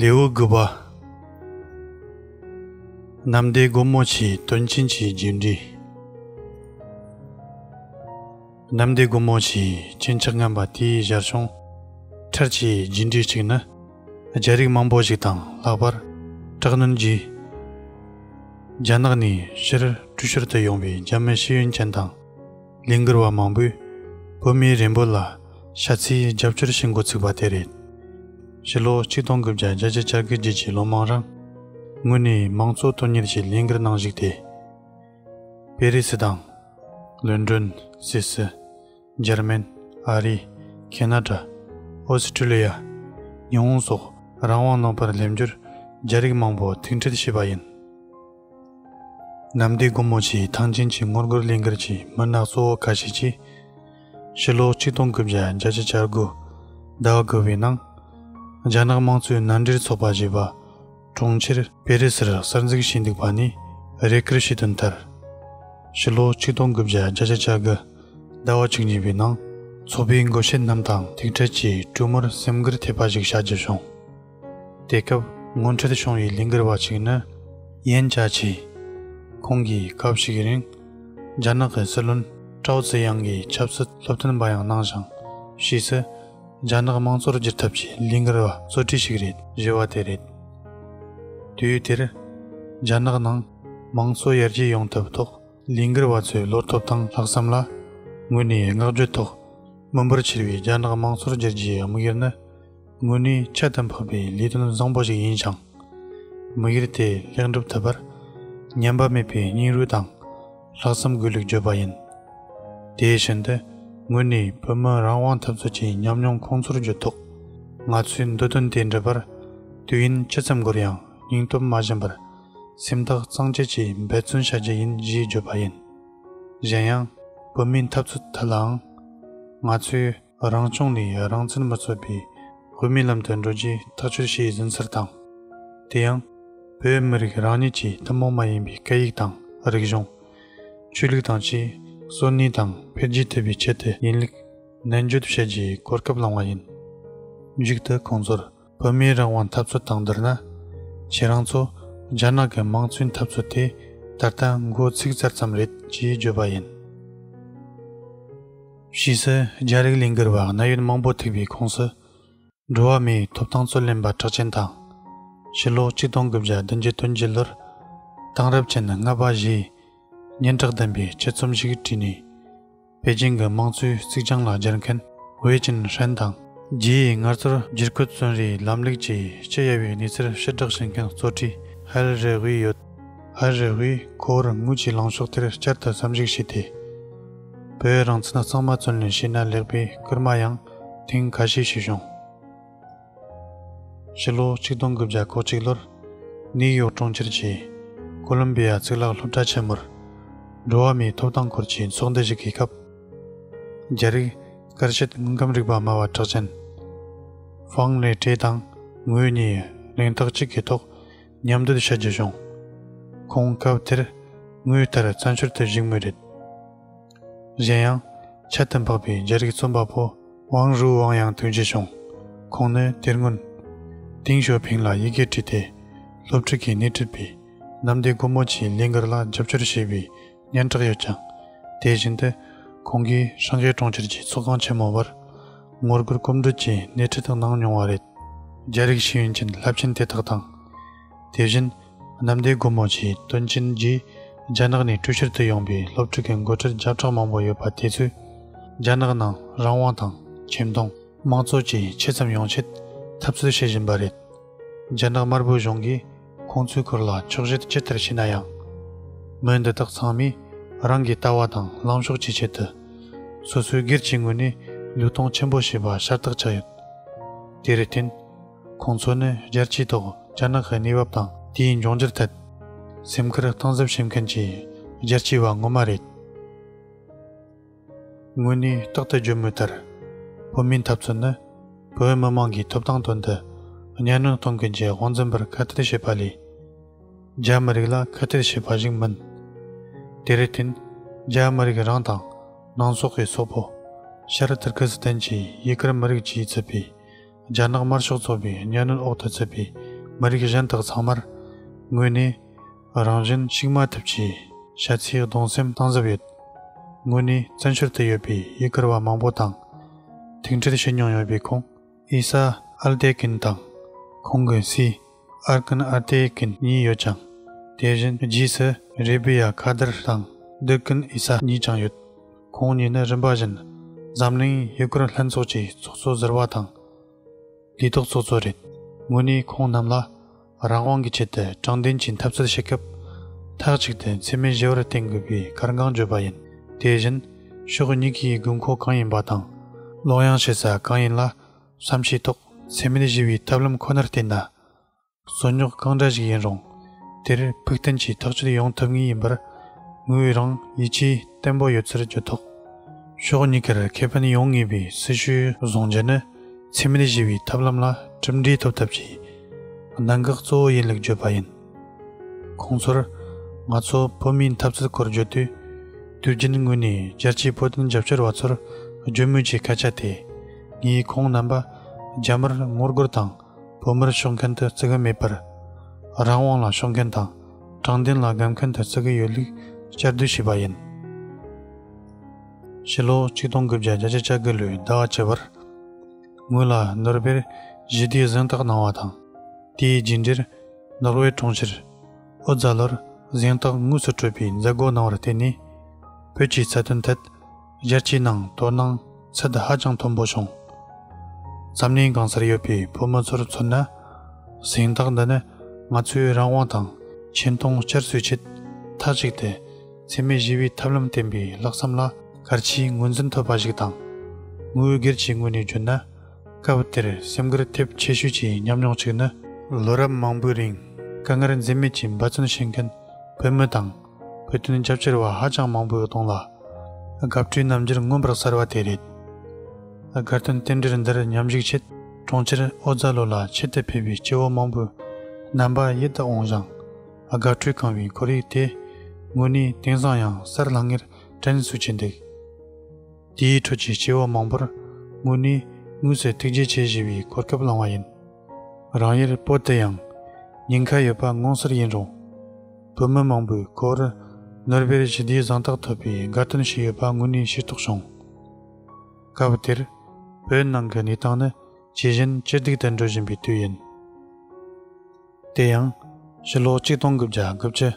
ལེའུ་དགུ་པ། ནམ་ཟླའི་སྒོ་མོ་ཆེའི་དོན་ཕྱིན་ཅི་བརྒྱུད་འདྲི། ནམ་ཟླའི་སྒོ་མོ་ཆེའི་སྤྱན་ཆགས་རྔམ་པ་དེའི་གཞར་བྱུང་ཕྲར་ཆེའི་བརྒྱུད་འདྲི་གཅིག་ནི། རྒྱལ་རིགས་མང་པོ་ཞིག་དང་ལྷག་པར་དྲག་གནོན་གྱིས། རྒྱ་ནག་ནས་ཕྱིར་བྲོས་ཤོར་དུ་ཡོང་བའི་རྒྱ་མི་ཤེས་ཡོན་ཅན་དང། ལས་འགུལ་བ་མང་པོས་བོད་མིའི་རིན་པོ་ལ་ཤ་ཚིལ་རྒྱབ་སྐྱོར་བྱེད་འགོ་ཚུགས་པ་དེ་རེད། ཕྱི་ལོ་ཆིག་སྟོང་དགུ་བརྒྱ་བརྒྱད་ཅུ་བཅར་དགུའི་རྗེས་ཀྱི་ལོ་མང་རིང་ངོས་ནས་མང་གཙོ་དོན་གཉེར་གྱི་ལས་འགུལ་ནང་ཞུགས་ཏེ། པེ་རི་སི་དང། ལོན་གྲོན། སི་སི། འཇར་མན། ཨ་རི། ཁེ་ན་ཏྲ། ཨོ་སི་ཀྲི་ལི་ཡ། ཉི་ཧོང་སོགས་རང་དབང་ནང་པར་སླེབས་རྒྱུར་རྒྱ་རིགས་མང་པོ་ཐུགས་འཕྲད་བྱས་པ་ཡིན། ནམ་ཟླའི་དགུང་མོ་ཆེའི་ཐང་ཆེན་གྱི་སྔོ་མགུར་གླིང་གར་གྱི་མུན་ནག་གཙོ་བོ་ཁ་ཤས་ཀྱིས། ཕྱི་ལོ་གཅིག་སྟོང་དགུ་བརྒྱ་བརྒྱད་ཅུ་ཆར་དགུ་ཟླ་བ་དགུ་བའི་ནང། རྒྱ་ནག་དམངས་གཙོའི་མནའ་འབྲེལ་ཚོགས་པ་ཞེས་པ་གྲོང་ཁྱེར་པེ་རི་སིར་གསར་འཛུགས་བྱས་འདུག་པ་ནི་རེ་སྐུལ་ཞུས་དོན་ལྟར། ཕྱི་ལོ་གཅིག་སྟོང་དགུ་བརྒྱ་བརྒྱ་ཆ་ཆ་དགུ་ཟླ་བ་བཅུ་གཉིས་པའི་ནང། ཚོགས་པའི་འགོ་བཤད་རྣམས་དང་ཐུག་འཕྲད་ཀྱིས་དྲུག་མོར་སེམས་འགུལ་ཐེབས་པ་ཞིག་བྱ་རྒྱུ་བྱུང། དེ་སྐབས་ངོ་འཕྲད་བྱུང་བའི་ལས་འགུལ་བ་གཅིག་ནི་ཡན་ཅཱ་ཆི། ཁོང་གིས་སྐབས་ཤིག་རིང་རྒྱ་ནག་གི་སྲིད་བློན་ཀྲའོ་ཙེ་དབྱང་གི་ཆབ་སྲིད་སློབ་སྟོན་པ་ཡང་གནང་ཞིང། ཕྱིས་སུ་རྒྱ་ནག་དམངས་གཙོར་བསྒྱུར་ཐབས་ཀྱི་ལས་འགུལ་བ་གཙོ་གྲས་ཤིག་རེད། བཞི་བ་དེ་རེད། དུས་དེར་རྒྱ་ནག་ནང་དམངས་གཙོ་ཡར་རྒྱས་ཡོང་ཐབས་ཐོག་ལས་འགུལ་བ་ཚོའི་བློ་སྟོབས་དང་ལྷག་བསམ་ལ་ངོས་ནས་བསྔགས་བརྗོད་ཐོག་མི་འབོར་ཆེ་བའི་རྒྱ་ནག་དམངས་གཙོར་བསྒྱུར་རྒྱུའི་དམིགས་ཡུལ་ནི། དངོས་ནི་ཁྱད་དུ་འཕགས་པའི་ལས་དོན་བཟང་པོ་ཞིག་ཡིན་ཞིང། མི་སྒེར་དེས་ལེགས་འགྲུབ་ཐོབ་པར་ཉམས་པ་མེད་པའི་སྙིང་རུས་དང་ལྷག་བསམ་དགོས་ལུགས་བརྗོད་པ་ཡིན། དེ་བཞིན་དུ་དངོས་ནི་བོད་མི་རང་དབང་འཐབ་རྩོད་ཀྱི་ཉམས་མྱོང་ཁོང་ཚོར་བརྗོད་ཐོག་ང་ཚོས་འདོད་དོན་དེ་འགྲུབ་པར་དུས་ཡུན་ཅི་ཙམ་འགོར་ཡང་སྙིང་སྟོབས་མ་བཞེངས་པར་སེམས་ཐག་གཙང་བཅད་ཀྱིས་འབད་བརྩོན་བྱ་རྒྱུ་ཡིན་ཞེས་བརྗོད་པ་ཡིན། གཞན་ཡང། བོད་མིའི་འཐབ་རྩོད་ཐད་ལའང་ང་ཚོས། རང་བྱུང་ནི་རང་བཙན་མ་རྩོད་པའི་བོད་མིའི་ལམ་དུ་འགྲོ་རྒྱུའི་ཐག་གཅོད་བྱས་ཟིན་ཚུལ་དང། དེ་ཡང། བོད་མི་རིགས་རང་ཉིད་ཀྱི་ཐུན་མོང་མ་ཡིན་པའི་སྐད་ཡིག་དང་རིག་གཞུང། ཆོས་ལུགས་དང་ཆེས་གསོན་ནུས་དང་འཕེལ་རྒྱས་ཐུབ་པའི་ཆེད་དུ་ཡིན་ལུགས་ནན་བརྗོད་བྱེད་རྒྱུའི་གོ་སྐབས་བླངས་བ་ཡིན། མཇུག་ཏུ་ཁོང་ཚོར་བོད་མིའི་རང་དབང་འཐབ་རྩོད་དང་བསྡུར་ན། ཁྱེད་རང་ཚོ་རྒྱ་ནག་གི་དམངས་གཙོའི་འཐབ་རྩོད་དེ་ད་ལྟ་མགོ་ཚིགས་གསར་ཙམ་རེད་ཅེས་བརྗོད་པ་ཡིན། ཕྱིས་སུ་རྒྱ་རིགས་ལས་འགུལ་བ་གནད་ཡོད་མང་པོ་ཐུག་པའི་ཁོངས་སུ། འགྲོ་བ་མིའི་ཐོབ་ཐང་རྩོད་ལེན་པ་གྲགས་ཅན་དང། ཕྱི་ལོ་གཅིག་སྟོང་དགུ་བརྒྱ་བདུན་ཅུ་དོན་བརྒྱད་ལོར། དེང་རབས་ཅན་ལྔ་པ་བཞིའི་སྙན་གྲགས་ལྡན་པའི་སྤྱི་རྩོམ་ཞིག་བྲིས་ནས། པེ་ཅིང་གི་དམངས་གཙོའི་གཙིགས་བྱང་ལ་སྦྱར་མཁན་ཝེ་ཅིན་ཧྲན་དང། རྗེས་ཡི་ངར་གསར་བསྒྱུར་བཀོད་བཙོན་རེའི་ལམ་ལུགས་ཀྱི་སྤྱི་གཡའ་བའི་གནས་ཚུལ་ཕྱིར་བསྒྲགས་བྱེད་མཁན་གཙོ་ཁྲི་ཧལ་རེ་ཝི་ཡོད། ཧལ་རེ་ཝིས་ཁོ་བོར་དངུལ་གྱི་ལངས་ཕྱོགས་དེར་བསྐྱར་དུ་བསམ་གཞིགས་བྱས་ཏེ། བོད་རང་བཙན་གཙང་མ་བཙོན་ལེན་བྱས་ན་ལེགས་པའི་སྐུལ་མ་ཡང་ཐེངས་ཁ་ཤས་ཞུས་བྱུང། ཕྱི་ལོ་ཆིག་སྟོང་དགུ་བརྒྱ་གོ་གཅིག་ལོར་ནིའུ་ཡོག་གྲོང་ཁྱེར་གྱི་ཀོ་ལུམ་པི་ཡ་གཙུག་ལག་སློབ་གྲྭ་ཆེན་མོར་འགྲོ་བ་མིའི་ཐོབ་ཐང་སྐོར་གྱི་ཚོགས་འདུ་ཞིག་གི་སྐབས། རྒྱ་རིགས་སྐར་ཆེད་དངོས་ཁམས་རིག་པ་སྨྲ་བ་གྲགས་ཅན་ཧྥང་ལེ་ཀྲེ་དང་ངོས་གཉིས་གླེང་རྟགས་གཅིག་གི་ཐོག་མཉམ་སྡོད་བྱ་རྒྱུ་བྱུང། ཁོང་སྐབས་དེར་ངོས་ལྟར་བཙན་བྱོལ་དུ་བཞུགས་མུས་རེད། གཞན་ཡང། ཁྱད་དུ་འཕགས་པའི་རྒྱལ་རིགས་རྩོམ་པ་པོ་ཝང་རུའུ་ཝང་ཡང་དོན་གྱིས་བྱུང། ཁོང་ནི་དེར་སྔོན། ཏིང་ཞོ་ཕིང་ལ་ཡི་གེ་བྲིས་ཏེ། སློབ་ཕྲུག་གིས་སྣེ་ཁྲིད་པའི་གནམ་བདེ་སྒོ་མོ་ཆེའི་ལས་འགུལ་ལ་རྒྱབ་སྐྱོར་བྱས་པའི་སྙན་གྲགས་ཡོད་ཀྱང། དེ་བཞིན་དུ། ཁོང་གིས་ཧྲང་ཧེ་གྲོང་ཁྱེར་གྱི་ཚོགས་ཁང་ཆེན་མོ་བར། ངོ་རྒོལ་སྐོམ་བགྲོད་ཀྱི་སྣེ་ཁྲིད་གནང་མྱོང་བ་རེད། རྒྱལ་རིགས་ཤེས་ཡོན་ཅན་རླབས་ཆེན་དེ་དག་དང། དེ་བཞིན། གནམ་བདེ་སྒོ་མོ་ཆེའི་དོན་ཆེན་རྗེས། རྒྱ་ནག་ནས་ཀྲུའུ་ཞིར་དུ་ཡོང་པའི་སློབ་ཕྲུག་གི་མགོ་ཁྲིད་བརྒྱ་ཕྲག་མང་པོ་ཡོད་པ་དེ་ཚོས། རྒྱ་ནག་ནང་རང་དབང་དང་ཁྱིམ་སྟོང་དམངས་གཙོ་བཅས་ཆེ་ཙམ་ཡོང་ཆེད་འཐབ་རྩོད་བྱེད་བཞིན་པ་རེད། རྒྱ་ནག་དམར་པོའི་གཞུང་གིས་ཁོང་ཚོའི་སྐོར་ལ་ཆོག་བཤད་ཇི་ལྟར་བྱས་ན་ཡང། མི་འདི་དག་ཚང་མས་རང་གི་ལྟ་བ་དང་ལངས་ཕྱོགས་ཀྱི་ཆེད་དུ། སོ་སོའི་སྒེར་གྱི་ངོས་ནས་ལུས་སྟོང་ཆེན་པོ་བྱས་པ་ཤ་སྟག་ཆགས་ཡོད། དེར་བརྟེན། ཁོང་ཚོ་ནི་རྒྱལ་སྤྱིའི་ཐོག་རྒྱ་ནག་གི་གནས་བབ་དང་དེའི་འབྱུང་འགྱུར་ཐད། སེམས་ཁུར་གཏིང་ཟབ་བྱེད་མཁན་གྱི་རྒྱལ་སྤྱིའི་བ་ངོ་མ་རེད། དངོས་གནས་རྟག་ཏུ་བརྗོད་མུས་ལྟར། བོད་མིའི་འཐབ་རྩོད་ནི་བོད་མི་དམངས་ཀྱི་ཐོབ་ཐང་དོན་དུ་གཉའ་གནོན་གཏོང་མཁན་གྱི་དབང་འཛིན་པར་ཁ་གཏད་བྱེད་པ་ལས། རྒྱ་མི་རིགས་ལ་ཁ་གཏད་བྱེད་པ་ཞིག་མིན། དེར་བརྟེན་རྒྱ་མི་རིགས་རང་དང་ནང་སོག་གི་སོག་པོ། ཤར་ཏུར་ཁི་སི་ཐན་གྱི་ཡི་གེར་མི་རིགས་ཀྱིས་བརྩི་པའི། རྒྱ་ནག་དམར་ཤོག་ཚོགས་པའི་གཉའ་གནོན་འོག་ཏུ་བཙུད་པའི་མི་རིགས་གཞན་དག་ཚང་མར་ངོས་ནས་རང་བཞིན་གཤིགས་མ་ཐུབ་ཀྱི་བཤད་ཚིག་གདུང་སེམས་གཏང་གཟབ་ཡོད། ངོས་ནས་བཙན་བྱོལ་དུ་ཡོད་པའི་ཡུ་གུར་བ་མང་པོ་དང་ཐུག་འཕྲད་བྱེད་མྱོང་ཡོད་པའི་ཁོང་ཨི་སཱ་ཨལ་ཏེ་ཀིན་དང་ཁོང་གི་སྲས། ཨར་ཀན་ཨར་ཏེ་ཀན་གཉིས་ཡོད་ཅིང། དེ་བཞིན་རྗེས་སུ་རེ་བི་ཡ་ཁ་དར་དང་བདུད་ཀན་ཨི་ས་གཉིས་ཀྱང་ཡོད། ཁོང་གཉིས་ནི་རིམ་པ་བཞིན་འཛམ་གླིང་ཡུལ་སྐོར་ལྷན་ཚོགས་ཀྱི་ཚོགས་གཙོ་ཟེར་བ་དང། དུས་ཐོག་ཚོགས་གཙོ་རེད། ངོས་ནས་ཁོང་རྣམས་ལ་རང་དབང་གི་ཆེད་དུ་དྲང་བདེན་གྱི་འཐབ་རྩོད་བྱེད་སྐབས། མཐའ་གཅིག་ཏུ་འཚེ་མེད་བཞི་བར་བརྟེན་དགོས་པའི་གར་འགངས་བརྗོད་པ་ཡིན། དེ་བཞིན་ཕྱོགས་གཉིས་ཀྱི་དགོས་མཁོ་གང་ཡིན་པ་དང། བློ་ཡང་ཤེས་ས་གང་ཡིན་ལ་བསམ་ཤེས་ཐོག་སེམས་མེད་ཞི་བའི་ཐབས་ལམ་ཁོ་ནར་བརྟེན་ན། རྩོད་རྙོག་གང་འདྲ་ཞིག་ཡིན་རུང་དེར་ཕུགས་བརྟན་གྱིས་ཐག་གཅོད་ཡོང་ཐུབ་ངེས་ཡིན་པར་ངོས་རང་ཡིད་ཆེས་བརྟན་པོ་ཡོད་ཚུལ་བརྗོད་ཐོག་ཕྱོགས་གཉིས་ཀར་ཁེ་ཕན་ཡོང་ངེས་པའི་སྲི་ཞུའི་གཟུང་རྒྱ་ནི་འཚེ་མེད་ཞི་བའི་ཐབས་ལམ་ལ་གྲུབ་འབྲས་ཐོབ་ཐབས་ཀྱི་གནད་འགག་གཙོ་བོ་ཡིན་ལུགས་བརྗོད་པ་ཡིན། ཁོང་ཚོར་ང་ཚོ་བོད་མིའི་འཐབ་རྩོད་སྐོར་བརྗོད་དུས། དུས་རྒྱུན་ངོས་ནས་རྒྱལ་སྤྱིའི་བོད་དོན་རྒྱབ་སྐྱོར་བ་ཚོར་བརྗོད་མུས་ཀྱི་སྐད་ཆ་དེ། ངས་ཁོང་རྣམ་པ་རྒྱ་མིར་ངོ་རྒོལ་དང་བོད་མིར་ཕྱོགས་མཁན་དུ་བརྩི་གི་མེད་པར། རང་དབང་ལ་ཕྱོགས་མཁན་དང་དྲང་བདེན་ལ་སྒམ་མཁན་དུ་བརྩི་གི་ཡོད་ལུགས་བསྐྱར་ཟློས་བྱས་པ་ཡིན། ཕྱི་ལོ་ཆིག་སྟོང་དགུ་བརྒྱ་བརྒྱད་ཅུ་གྱ་དགུ་ལོའི་ཟླ་བ་བཅུ་བར། ངོས་ལ་ནོར་བྷེལ་ཞི་བདེའི་གཟེངས་རྟགས་གནང་བ་དང། དེའི་རྗེས་འབྲེལ་ནོར་ཝེ་གྲོང་ཁྱེར་ཨོ་རྫ་ལོར་གཟེངས་རྟགས་དངོས་སུ་སྤྲོད་པའི་མཛད་སྒོ་གནང་བར་བརྟེན་ནས། བོད་ཀྱི་རྩ་དོན་ཐད་རྒྱལ་སྤྱིའི་ནང་དོ་སྣང་ཚད་ཧ་ཅང་མཐོན་པོ་བྱུང། འཛམ་གླིང་གང་སར་ཡོད་པའི་བོད་མི་ཚོར་མཚོན་ན། གཟེངས་རྟགས་འདི་ནི་ང་ཚོའི་རང་དབང་དང་ཆེ་མཐོང་བསྐྱར་གསོའི་ཆེད་མཐའ་གཅིག་ཏུ། འཚེ་མེད་ཞི་བའི་ཐབས་ལམ་བསྟན་པའི་ལྷག་བསམ་ལ་གར་ཆེའི་ངོས་འཛིན་ཐོབ་པ་ཞིག་དང། དངོས་ཡོད་སྒེར་གྱི་ངོས་ནས་བརྗོད་ན། སྐབས་དེར་སེམས་འགུལ་ཐེབས་ཆེ་ཤོས་ཀྱི་མཉམ་མྱོང་གཅིག་ནི། ལོ་རབས་མང་པོའི་རིང་དཀའ་ངལ་འཛེམ་མེད་ཀྱིས་འབད་བརྩོན་བྱེད་མཁན་བོད་མི་དང་བོད་དོན་རྒྱབ་སྐྱོར་བ་ཧ་ཅང་མང་པོའི་གདོང་ལ་དགའ་སྤྲོའི་རྣམ་འགྱུར་མངོན་པར་གསལ་བ་དེ་རེད། སྒར་དོན་རྟེན་འབྲེལ་འདིར་མཉམ་ཞུགས་ཆེད་གྲོང་ཁྱེར་ཨོ་རྫ་ལོ་ལ་ཆེད་དུ་ཕེབས་པའི་སྐྱེ་བོ་མང་པོའི་རྣམ་པ་ཡིད་དུ་འོང་ཞིང། ཨ་དགའ་སྤྲོས་གང་བའི་འཁོར་ཡུག་དེ། དངོས་གནས་དེང་སང་ཡང་གསར་ལྷང་ངེར་དྲན་སུ་བྱེད་འདུག། དེའི་ཁྲོད་ཀྱི་སྐྱེ་བོ་མང་པོར་དངོས་གནས་དངོས་སུ་ཐུགས་རྗེ་ཆེ་བཞེས་པའི་གོ་སྐབས་བླངས་བ་ཡིན། རང་ཡུལ་སྤོ་དེ་ཡང་ཉེན་ཁ་ཡོད་པ་ངོ་མཚར་ཡིན་རུང། བོད་མི་མང་པོའི་གོ་བར་ནོར་བེར་ཞི་བདེའི་གཟེངས་རྟགས་ཐོབ་པའི་དགའ་སྟོན་ཞིག་ཡོད་པ་དངོས་གནས་ཤེས་རྟོགས་བྱུང། སྐབས་དེར་བོད་ནང་གི་གནས་སྟངས་ནི་ཇི་བཞིན་ཅི་སྡུག་ཏུ་འགྲོ་བཞིན་པའི་དུས་ཡིན། དེ་ཡང། ཕྱི་ལོ་གཅིག་སྟོང་དགུ་བརྒྱ་དགུ་བཅུ།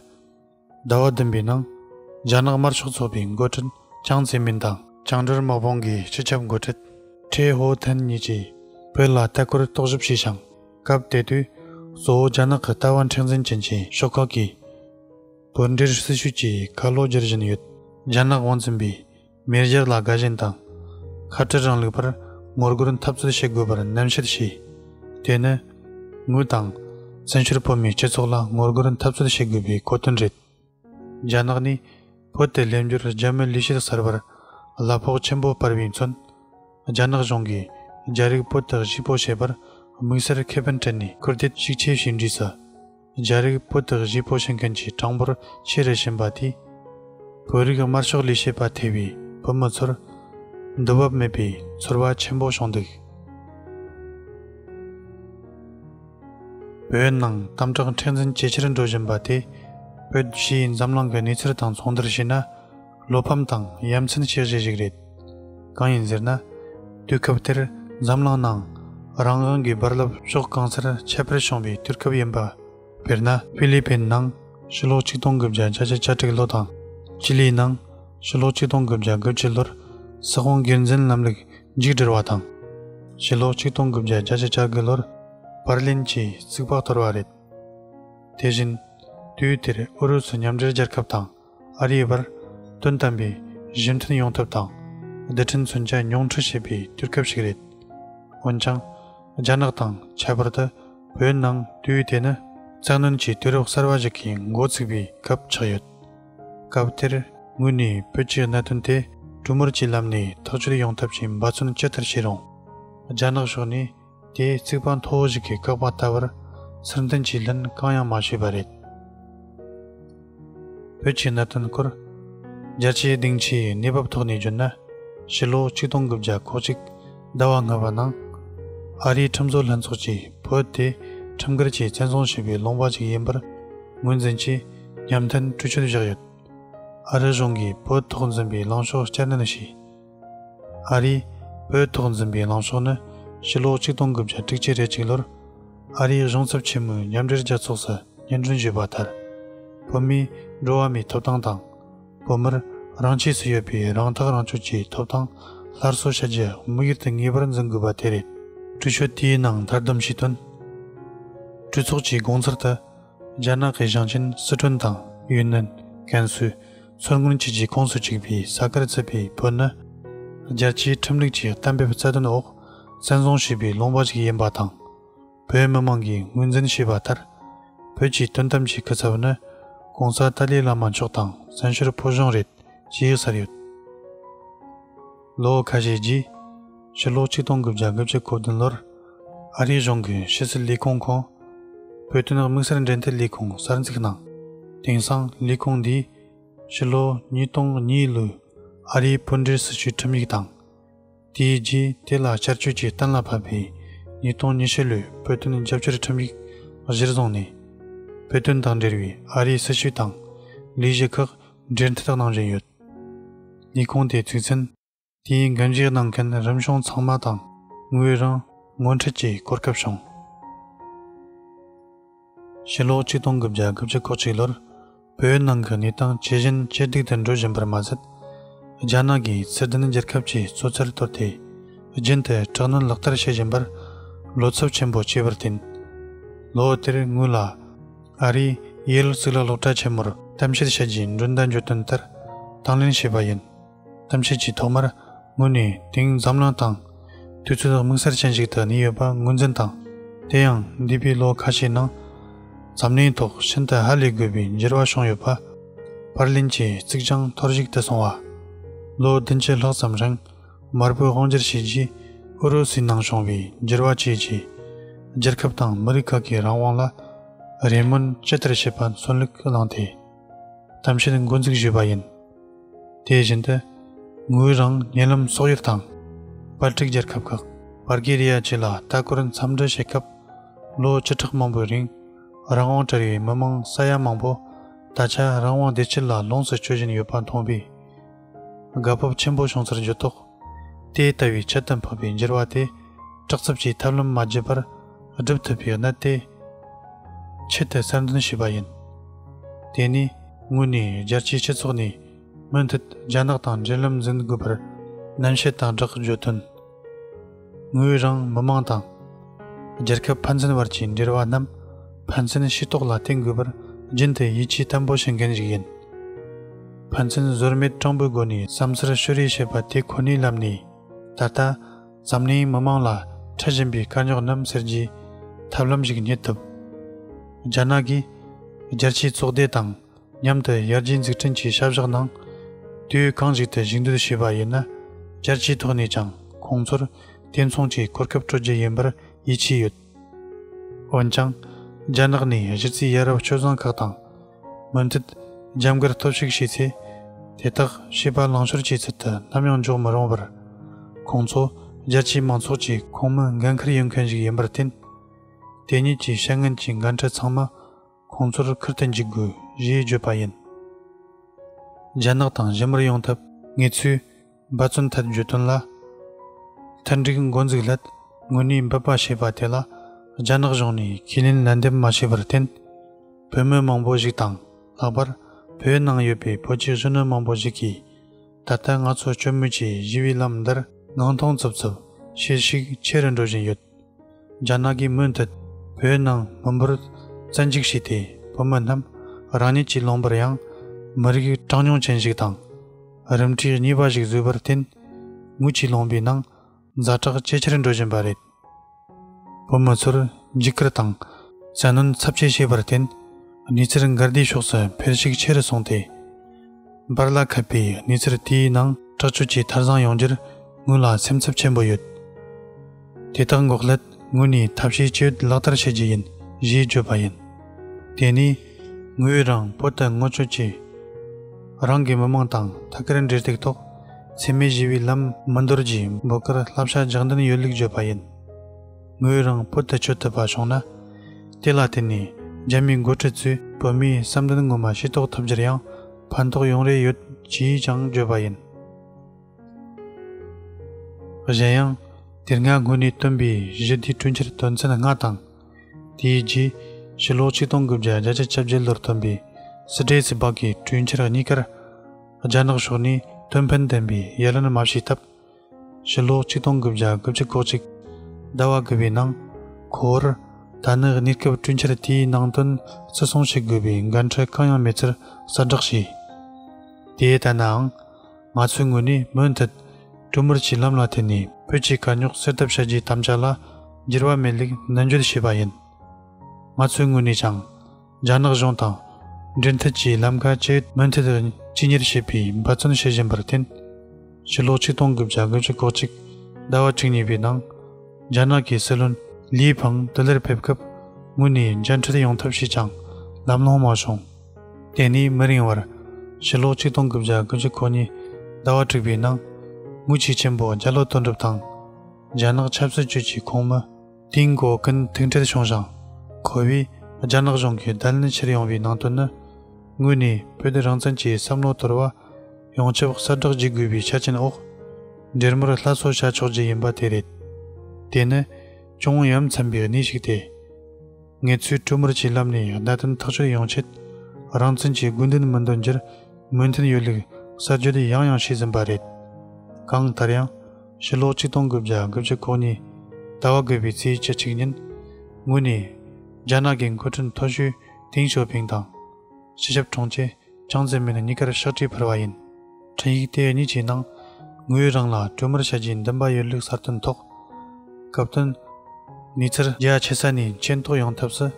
ཟླ་བ་བདུན་པའི་ནང། རྒྱ་ནག་དམར་ཤོག་ཚོགས་པའི་མགོ་ཁྲིད་ཅང་ཙེ་མིན་དང། བྱང་དྲུར་དམག་དཔུང་གི་སྤྱི་ཁྱབ་མགོ་ཁྲིད་ཁྲེ་ཧོ་ཐན་གཉིས་ཀྱིས་བོད་ལ་ལྟ་སྐོར་རྟོག་ཞིབ་བྱས་ཤིང། སྐབས་དེ་དུས་གཙོ་བོ་རྒྱ་ནག་གི་ལྟ་བ་མཁྲེགས་འཛིན་ཅན་གྱི་ཤོག་ཁག་གིས། བོད་འབྲེལ་སྲིད་བྱུས་ཀྱི་ཁ་ལོ་སྒྱུར་བཞིན་ཡོད། རྒྱ་ནག་དབང་འཛིན་པའི་མེས་རྒྱལ་ལ་དགའ་ཞེན་དང། ཁ་བྲལ་རང་ལུགས་པར་ངོ་རྒོལ་འཐབ་རྩོད་བྱེད་དགོས་པར་ནན་བཤད་བྱས། དེ་ནི། ངོས་དང། བཙན་བྱོལ་བོད་མིའི་སྤྱི་ཚོགས་ལ་ངོ་རྒོལ་འཐབ་རྩོད་བྱེད་དགོས་པའི་གོ་དོན་རེད། རྒྱ་ནག་ནས་བོད་དུ་སླེབས་འབྱོར་རྒྱ་མི་ལུས་ཤེར་གསར་པར་གླ་ཕོགས་ཆེན་པོ་སྤར་བའི་མཚོན། རྒྱ་ནག་གཞུང་གིས་རྒྱ་རིགས་བོད་དུ་གཤིག་པོ་བྱེད་པར་དམིགས་བསལ་ཁེ་ཕན་སྤྲད་ནས་སྐུར་འདེབས་ཤུགས་ཆེ་ཞིག་འགྲིག་ས། རྒྱ་རིགས་སྤུ་དག་བཞི་སྤོ་བྱེད་མཁན་གྱི་གྲངས་འབོར་ཆེ་རེ་བཞིན་པ་དེས། བོད་རིགས་དམར་ཤོག་ལས་བྱེད་པ་ཐེ་བའི་བོད་མི་ཚོར། འདུ་བབ་མེད་པའི་ཚོར་བ་ཆེན་པོ་བྱུང་འདུག། བོད་ནང་དམ་དྲག་མཁྲེགས་འཛིན་ཇེ་ཆེར་འགྲོ་བཞིན་པ་དེས། བོད་ཕྱིའི་འཛམ་གླིང་གི་གནས་ཚུལ་དང་མཚུངས་བསྡུར་བྱས་ན། བློ་ཕམ་དང་ཡ་མཚན་ཆེ་གཞི་ཞིག་རེད། གང་ཡིན་ཟེར་ན། དུས་སྐབས་དེར་འཛམ་གླིང་ནང་རང་དབང་གི་རྦ་རླབས་ཕྱོགས་གང་སར་ཁྱད་པར་བྱུང་བའི་དུས་སྐབས་ཡིན་པ། དཔེར་ན། ཧྥི་ལི་པིན་ནང་ཕྱི་ལོ་ཆིག་སྟོང་དགུ་བརྒྱ་གྱ་བཞི་གྱ་དྲུག་ལོ་དང། ཅི་ལིའི་ནང་ཕྱི་ལོ་ཆིག་སྟོང་དགུ་བརྒྱ་དགུ་བཅུ་ལོར་ས་ཁོངས་སྒེར་འཛིན་ལམ་ལུགས་མཇུག་བསྒྲིལ་བ་དང། ཕྱི་ལོ་ཆིག་སྟོང་དགུ་བརྒྱ་གྱ་བཞི་གྱ་དགུ་ལོར་པར་ལིན་གྱི་རྩིག་པ་གཏོར་བ་རེད། དེ་བཞིན། དུས་དེར་ཨུ་རུ་སུ་མཉམ་འབྲེལ་རྒྱལ་ཁབ་དང། ཨ་རིའི་བར་དོན་དམ་པའི་གཞི་མཐུན་ཡོང་ཐབས་དང་རྡུལ་ཕྲན་མཚོན་ཆ་ཉུང་འཕྲི་བྱེད་པའི་དུས་སྐབས་ཤིག་རེད། འོན་ཀྱང། རྒྱ་ནག་དང་ཁྱད་པར་དུ་བོད་ནང་དུས་དེ་ནི་གཙང་གནོན་གྱི་དུས་རབས་གསར་བ་ཞིག་གི་མགོ་ཚུགས་པའི་སྐབས་ཆགས་ཡོད། སྐབས་དེར་ངོས་ནས་བོད་ཀྱི་གནད་དོན་དེ་གྲུ་མུར་གྱི་ལམ་ནས་ཐག་གཅོད་ཡོང་ཐབས་ཀྱི་འབད་བརྩོན་ཅི་ལྟར་བྱས་རུང། རྒྱ་ནག་ཕྱོགས་ནས་དེས་རྩིག་པ་མཐོ་བོ་ཞིག་གི་བཀག་པ་ལྟ་བུར་ཚུར་འདོན་གྱིས་ལན་གང་ཡང་མ་བྱས་པ་རེད། བོད་ཀྱི་གནད་དོན་སྐོར། རྒྱ་ཆེའི་སྡིངས་ཆའི་གནས་བབ་ཐོག་ནས་བརྗོད་ན། ཕྱི་ལོ་ཆིག་སྟོང་དགུ་བརྒྱ་གོ་གཅིག་ཟླ་བ་ལྔ་པ་ནང། ཨ་རིའི་ཁྲིམས་བཟོ་ལྷན་ཚོགས་ཀྱིས་བོད་དེ་ཁྲིམས་འགལ་གྱིས་བཙན་བཟུང་བྱས་པའི་ལུང་པ་ཅིག་ཡིན་པར་ངོས་འཛིན་གྱིས་ཉམས་ཐོན་གྲོས་ཆོད་བཞག་ཡོད། ཨ་རི་གཞུང་གིས་བོད་ཐོག་འཛིན་པའི་ལངས་ཕྱོགས་བསྐྱར་ནན་བྱས། ཨ་རིས་བོད་ཐོག་འཛིན་པའི་ལངས་ཕྱོགས་ནི་ཕྱི་ལོ་གཅིག་སྟོང་དགུ་བརྒྱ་དྲུག་ཅུ་རེ་གཅིག་ལོར་ཨ་རིའི་གཞུང་ཚབ་ཆེན་མོའི་མཉམ་འབྲེལ་རྒྱལ་ཚོགས་སུ་སྙན་སྒྲོན་ཞུས་པ་ལྟར། བོད་མིའི་འགྲོ་བ་མིའི་ཐོབ་ཐང་དང། བོད་མིར་རང་ཆས་སུ་ཡོད་པའི་རང་ཐག་རང་གཅོད་ཀྱི་ཐོབ་ཐང་སླར་གསོ་བྱ་རྒྱུ་དམིགས་ཡུལ་དུ་ངེས་པར་འཛིན་དགོས་པ་དེ་རེད། གྲོས་ཆོད་དེའི་ནང་མཐར་བསྡོམས་ཞུས་དོན། གྲོས་ཚོགས་ཀྱི་དགོངས་ཚུལ་དུ། རྒྱ་ནག་གི་ཞིང་ཆེན་སི་ཁྲོན་དང་ཡུན་ནན། ཀན་སུའུ། མཚོ་སྔོན་བཅས་ཀྱི་ཁོངས་སུ་གཅིག་པའི་ས་ཁར་བརྩིས་པའི་བོད་ནི། རྒྱལ་སྤྱིའི་ཁྲིམས་ལུགས་ཀྱི་གཏན་འབེབས་རྩ་དོན་འོག་བཙན་བཟུང་བྱས་པའི་ལུང་པ་ཞིག་ཡིན་པ་དང། བོད་མི་དམངས་ཀྱིས་ངོས་འཛིན་བྱས་པ་ལྟར། བོད་ཀྱི་དོན་དམ་གྱི་སྐུ་ཚབ་ནི ྋགོང་ས་ཏཱ་ལའི་བླ་མ་མཆོག་དང་བཙན་བྱོལ་བོད་གཞུང་རེད་ཅེས་ཟེར་ཡོད། ལོ་ཁ་ཤས་རྗེས། ཕྱི་ལོ་ཆིག་སྟོང་དགུ་བརྒྱ་དགུ་བརྒྱ་གོ་བདུན་ལོར། ཨ་རིའི་གཞུང་གི་ཕྱི་སྲིད་ལས་ཁུངས་ཁོངས། བོད་དོན་དམིགས་བསལ་འབྲེལ་མཐུད་ལས་ཁུངས་གསར་འཛུགས་གནང། དེང་སང་ལས་ཁུངས་འདིས། ཕྱི་ལོ་ཉིས་སྟོང་གཉིས་ལོའི་ཨ་རིའི་སྤུན་འབྲེལ་སྲི་ཞུའི་ཁྲིམས་ཡིག་དང། དེའི་རྗེས་དེ་ལ་བསྐྱར་བཅོས་ཀྱིས་གཏན་ལ་ཕབ་པའི་ཉིས་སྟོང་ཉི་ཤུ་ལོའི་བོད་དོན་རྒྱབ་སྐྱོར་ཁྲིམས་ཡིག་གཞིར་བཟུང་ནས། བོད་དོན་དང་འབྲེལ་བའི་ཨ་རིའི་སྲི་ཞུ་དང། ལས་གཞི་ཁག་འབྲེལ་མཐུད་དག་གནང་བཞིན་ཡོད། ནི་ཁུངས་དེ་ཚུགས་ཚུན། དེའི་འགན་བཞེས་གནང་མཁན་རིམ་གཞུང་ཚང་མ་དང་ངོས་རང་ངོ་འཕྲད་ཀྱིས་གོ་སྐབས་བྱུང། ཕྱི་ལོ་གཅིག་སྟོང་དགུ་བརྒྱ་དགུ་བཅུ་གོ་གཅིག་ལོར་བོད་ནང་གི་གནས་སྟངས་ཇི་བཞིན་ཇེ་སྡུག་ཏུ་འགྲོ་བཞིན་པར་མ་ཟད། རྒྱ་ནག་གིས་ཚད་ལྡན་རྒྱལ་ཁབ་ཀྱི་གཙོ་ཆེར་གཏོར་ཏེ་རྒྱུན་དུ་དྲག་གནོན་ལག་བསྟར་བྱེད་བཞིན་པར་བློ་འཚབ་ཆེན་པོ་སྐྱེས་པར་བརྟེན། ལོ་དེར་དངུལ་ལ་ཨ་རིའི Yale གཙུག་ལག་སློབ་གྲྭ་ཆེན་མོར་གཏམ་བཤད་བྱས་རྗེས་མགྲོན་བདག་འཇོན་དོན་ལྟར་དང་ལེན་བྱས་པ་ཡིན། གཏམ་བཤད་ཀྱི་ཐོག་མར་ངོས་ནས་དེང་འཛམ་གླིང་སྟེང་དུས་ཚོད་དམིགས་བསལ་ཅན་ཞིག་ཏུ་གནས་ཡོད་པ་ངོས་འཛིན་དང། དེ་ཡང་འདས་པའི་ལོ་ཁ་ཤས་ནང་འཛམ་གླིང་ཐོག་ཤིན་ཏུ་ཧ་ལས་དགོས་པའི་འགྱུར་བ་བྱུང་ཡོད་པ། པར་ལེན་གྱི་རྩིག་གྱང་འཐོར་བཞུགས་དུ་སོང་བ། ལོ་བདུན་ཕྱེད་ལྷག་ཙམ་རིང། དམར་པོའི་དབང་བསྒྱུར་བྱས་རྗེས་ཨུ་རུ་སུའི་ནང་བྱུང་བའི་འགྱུར་བ་བཅས་ཀྱིས་རྒྱལ་ཁབ་དང་མི་རིགས་ཁག་གི་རང་དབང་ལ་རེ་སྨོན་ཇི་ལྟར་བྱེད་པར་མཚོན་ལུགས་བླངས་ཏེ་གཏམ་བཤད་མགོ་འཛུགས་བྱས་པ་ཡིན། དེ་བཞིན་དུ་ངོས་རང་ཉེ་ལམ་སོག་ཡུལ་དང་པར་བྲིས་རྒྱལ་ཁབ་ཁག་བར་གྷི་རི་ཡ་བཅས་ལ་ལྟ་སྐོར་འཚམས་འདྲི་བྱེད་སྐབས་ལོ་བཅུ་ཕྲག་མང་པོའི་རིང་རང་དབང་བྲལ་བའི་མི་མང་ས་ཡ་མང་པོ་ད་ཆ་རང་དབང་བདེ་སྐྱིད་ལ་ལོངས་སུ་སྤྱོད་བཞིན་ཡོད་པ་མཐོང་བས། དགའ་སྤོབས་ཆེན་པོ་བྱུང་ཚར་འགྱུར་དོགས། དེ་ལྟ་བུའི་ཆེད་དུ་འཕོས་པའི་འགྱུར་བ་དེ། དྲག་རྩུབ་ཀྱི་ཐབས་ལམ་མ་བརྒྱུད་པར་བསྒྲུབ་ཐུབ་པའི་གནད་དེ། ཆེད་དུ་གསལ་འདོན་བྱས་པ་ཡིན། དེ་ནས་ངོས་ནས་རྒྱལ་སྤྱིའི་སྤྱི་ཚོགས་ནས། མུ་མཐུད་རྒྱ་ནག་དང་འབྲེལ་ལམ་འཛིན་དགོས་པར་ནན་བཤད་དང་སྦྲགས་བརྗོད་དོན། ངོས་རང་མི་མང་དང་རྒྱལ་ཁབ་ཕན་ཚུན་བར་གྱི་འབྲེལ་བ་རྣམས་ཕན་ཚུན་ཤེས་རྟོགས་ལ་བརྟེན་དགོས་པར་རྒྱུན་དུ་ཡིད་ཆེས་བརྟན་པོ་བྱེད་མཁན་ཞིག་ཡིན། ཕན་ཚུན་ཟོལ་མེད་སྤྲང་པོའི་སྒོ་ནས་བསམ་ཚུལ་ཤོད་རེས་བྱེད་པ་དེ་ཁོ་ནའི་ལམ་ནས་ད་ལྟ་འཛམ་གླིང་མི་མང་ལ་འཕྲད་བཞིན་པའི་དཀའ་རྙོག་རྣམས་སེལ་རྒྱུའི་ཐབས་ལམ་ཞིག་རྙེད་ཐུབ། རྒྱ་ནག་གིས་རྒྱལ་སྤྱིའི་ཚོགས་སྡེ་དང་མཉམ་དུ་ཡར་རྒྱས་འཛུགས་སྐྲུན་གྱི་བྱ་བཞག་ནང་དུས་གང་ཞིག་ཏུ་ཞུགས་འདོད་བྱས་པ་ཡིན་ན་བསྐྱར་ཇུས་ཐོག་ནས་ཀྱང་ཁོང་ཚོར་དེ་མཚུངས་ཀྱི་གོ་སྐབས་སྤྲོད་རྒྱུ་ཡིན་པར་ཡིད་ཆེས་ཡོད། འོན་ཀྱང། རྒྱ་ནག་ནས་གཞི་རྩའི་ཡ་རབས་སྤྱོད་བཟང་ཁག་དང། མུ་མཐུད་རྒྱབ་མགར་སྟོབས་ཤུགས་བྱས་ཚེ། དེ་དག་བྱིས་པ་ལང་ཤོར་བྱེད་ཚུལ་དུ་ནམ་ཡང་འཇོག་མི་རུང་བར། ཁོང་ཚོ་རྒྱལ་སྤྱིའི་མང་ཚོགས་ཀྱི་ཁོངས་མི་འགན་འཁུར་ཡོད་མཁན་ཞིག་ཡིན་པར་བརྟེན། དེ་ཉིད་ཀྱི་བཤད་ངན་གྱི་འགན་འཁྲི་ཚང་མ། ཁོང་ཚོར་ཁུར་དུ་འཇུག་དགོས་རེད་བརྗོད་པ་ཡིན། རྒྱ་ནག་དང་ཞི་མོལ་ཡོང་ཐབས་ངེས་ཚུལ་འབའ་བརྩོན་ཐད་བརྗོད་དོན་ལ། མཐུན་འགྲིག་མགོ་འཛུགས་སླད་དངོས་གནས་འབད་པ་བྱས་པ་དེ་ལ་རྒྱ་ནག་གཞུང་ནས་ཁས་ལེན་ལན་འདེབས་མ་བྱས་པར་བརྟེན། བོད་མི་མང་པོ་ཞིག་དང་ལྷག་པར་བོད་ནང་ཡོད་པའི་བོད་ཀྱི་གཞོན་ནུ་མང་པོ་ཞིག་གིས་ད་ལྟ་ང་ཚོ་སྐྱོ་མོས་ཀྱིས་བཞི་བའི་ལམ་འདིར་སྣང་སྟོང་རྩུབ་རྩུབ་བྱེད་ཤུགས་ཆེ་རུ་འགྲོ་བཞིན་ཡོད། རྒྱ་ནག་གིས་མུ་མཐུད་བོད་ནང་མི་འབོར་བཙན་འཇུག་བྱས་ཏེ་བོད་མི་རྣམས་རང་ཉིད་ཀྱི་ལོངས་པར་ཡང་མི་རིགས་གྲངས་ཉུང་ཅན་ཞིག་དང་རིམ་གྲས་གཉིས་པ་ཞིག་བཟོས་པར་བརྟེན་དངུལ་གྱིས་ལོངས་པའི་ནང་ཛ་དྲག་ཇེ་ཆེར་འགྲོ་བཞིན་པ་རེད། བོད་མི་ཚོར་འཇིགས་སྐུལ་དང་བཙན་གནོན་ཚབས་ཆེ་བྱས་པར་བརྟེན་གནས་ཚུལ་འགལ་ཟླའི་ཕྱོགས་སུ་འཕེལ་ཤུགས་ཆེ་རུ་སོང་སྟེ། འབར་ལ་ཁད་པའི་གནས་ཚུལ་དེའི་ནང་དྲག་སྤྱོད་ཀྱི་མཐར་བཟང་ཡོང་རྒྱུར་ངོས་ལ་སེམས་འཚབ་ཆེན་པོ་ཡོད། དེ་དག་འགོག་སླད་ངོས་ནས་ཐབས་ཤེས་བཅས་ལག་བསྟར་བྱེད་ཀྱི་ཡིན་ཞེས་བརྗོད་པ་ཡིན། དེ་ནི་ངོས་རང་བོད་དུ་སྔོན་བྱོན་གྱིས་རང་གི་མི་དམངས་དང་ཐད་ཀར་འབྲེལ་གཏུག་ཐོག་འཚེ་མེད་ཞི་བའི་ལམ་མི་འདོར་རྒྱུའི་འབོད་སྐུལ་བསླབ་བྱ་རྒྱག་འདུན་ཡོད་ལུགས་བརྗོད་པ་ཡིན། ངོས་རང་བོད་དུ་བྱོལ་ཐུབ་པ་བྱུང་ན། དེ་ལ་བརྟེན་ནས་རྒྱ་མིའི་འགོ་ཁྲིད་ཚོས་བོད་མིའི་བསམ་འདུན་ངོ་མ་ཤེས་རྟོགས་ཐུབ་རྒྱུར་ཡང་ཕན་ཐོགས་ཡོང་རེ་ཡོད་ཅེས་ཀྱང་བརྗོད་པ་ཡིན། གཞན་ཡང། དེ་སྔ་སྔོན་ནས་བཏོན་པའི་གཞི་རྟའི་གྲོས་འཆར་དོན་ཚན་ལྔ་དང། དེའི་རྗེས་ཕྱི་ལོ་ཆིག་སྟོང་དགུ་བརྒྱ་བརྒྱ་ཆ་བཅུ་བརྒྱད་ལོར་བཏོན་པའི་སི་ཏྲེ་སི་སྦག་གི་གྲོས་འཆར་གཉིས་ཀར་རྒྱ་ནག་ཕྱོགས་ནས་དོན་ཕན་ལྡན་པའི་ཡ་ལན་མ་བྱས་སྟབས། ཕྱི་ལོགས་ཆིག་སྟོང་དགུ་བརྒྱ་དགུ་བཅུ་གོ་གཅིག། ཟླ་བ་དགུ་པའི་ནང། ཁོར། ད་ནི་གནས་སྐབས་བསྐྲུན་འཆར་དེའི་ནང་དོན་བརྩི་སྲུང་བྱེད་དགོས་པའི་འགན་འཁྲི་གང་ཡང་མེད་ཚུལ་གསལ་བསྒྲགས་བྱས། དེ་ལྟ་ནའང། ང་ཚོའི་ངོས་ནས་མུ་མཐུད། གྲུ་མུར་གྱི་ལམ་ལ་འཐེན་ནས་བོད་ཀྱི་དཀའ་རྙོག་སེལ་ཐབས་བྱ་རྒྱུའི་དམ་བཅའ་ལ་འགྱུར་བ་མེད་ལེགས་ནན་བརྗོད་བྱས་པ་ཡིན། ང་ཚོའི་ངོས་ནས་ཀྱང། རྒྱ་ནག་གཞུང་དང་འབྲེལ་མཐུད་ཀྱིས་ལམ་ཁ་བཅས་མུ་མཐུད་དུ་གཅིག་གཉེར་བྱེད་པའི་འབད་བརྩོན་བྱེད་བཞིན་པར་བརྟེན། ཕྱི་ལོ་ཆིག་སྟོང་དགུ་བརྒྱ་དགུ་ཅུ་གོ་གཅིག་ཟླ་བ་དྲུག་གཉིས་པའི་ནང་རྒྱ་ནག་གི་སྲིད་བློན་ལིས་ཕང་དུ་ལེར་ཕེབས་སྐབས་དངོས་ནས་མཇལ་འཕྲད་ཡོང་ཐབས་བྱས་ཀྱང་ལམ་ལྷོང་མ་བྱུང། དེ་ནས་མི་རིང་བར། ཕྱི་ལོ་ཆིག་སྟོང་དགུ་བརྒྱ་དགུ་ཅུ་གོ་གཉིས་ཟླ་བ་དྲུག་པའི་ནང། དངུལ་ཆས་ཆེན་པོ་བརྒྱ་ལོ་དོན་གྲུབ་དང། རྒྱ་ནག་ཆབ་སྲིད་ཅུས་ཀྱི་ཁོངས་མི། དེའི་འགོ་ཀུན་ཐུགས་འཕྲལ་བྱུང་ཞིང་གོ་བས་རྒྱ་ནག་གཞུང་གིས་བརྡལ་ནས་ཕྱིར་ཡོང་བའི་ནང་དོན་ནི། དངོས་ནས་བོད་དོན་རང་བཙན་གྱི་བསམ་བློ་དོར་བ་ཡོངས་ཁྱབ་གསལ་བསྒྲགས་བགྱི་དགོས་པའི་ཆ་རྐྱེན་འོག་འབྲེལ་མོལ་སླར་གསོ་བྱ་ཆོག་རྒྱུ་ཡིན་པ་དེ་རེད། དེ་ནི་ཅུང་ཡ་མཚན་པའི་གནས་ཤིག་སྟེ། ངེད་ཚོས་དཀྲུག་མར་གྱི་ལམ་ནས་བརྡ་དོན་ཐག་གཅོད་ཡོང་ཆེད་རང་བཙན་གྱི་དགོས་འདུན་མི་འདོན་རྒྱུར་མོས་མཐུན་ཡོད་ལུགས་གསར་བརྗོད་ཡང་ཡང་བྱས་ཟིན་པ་རེད། གང་ལྟར་ཡང། ཕྱི་ལོ་ཆིག་སྟོང་དགུ་བརྒྱ་དགུ་བཅུ་གོ་གཉིས་ཟླ་བ་དགུ་པའི་ཚེས་བཅུ་གཅིག་ཉིན་ངོས་ནས། རྒྱ་ནག་གི་མཁོ་སྤྲོད་མཐོ་ཤོས་ཏིང་ཞོ་ཕིང་དང། སྤྱི་ཞབས་གྲོང་ཁྱེར་ཅང་ཙེ་མིན་གཉིས་ཀར་ཕྱག་བྲིས་འཕར་བ་ཡིན། འཕྲིན་ཡིག་དེ་གཉིས་ཀྱི་ནང། ངོས་རང་ལ་སྤྲོད་མར་བྱ་རྒྱུའི་འདུན་པ་ཡོད་ལུགས་གསར་བཏོན་ཐོག། སྐབས་བསྟུན། ངེད་ཚར་རྒྱ་ཆེ་ས་ནས་མཁྱེན་རྟོགས་ཡོང་ཐབས་སུ།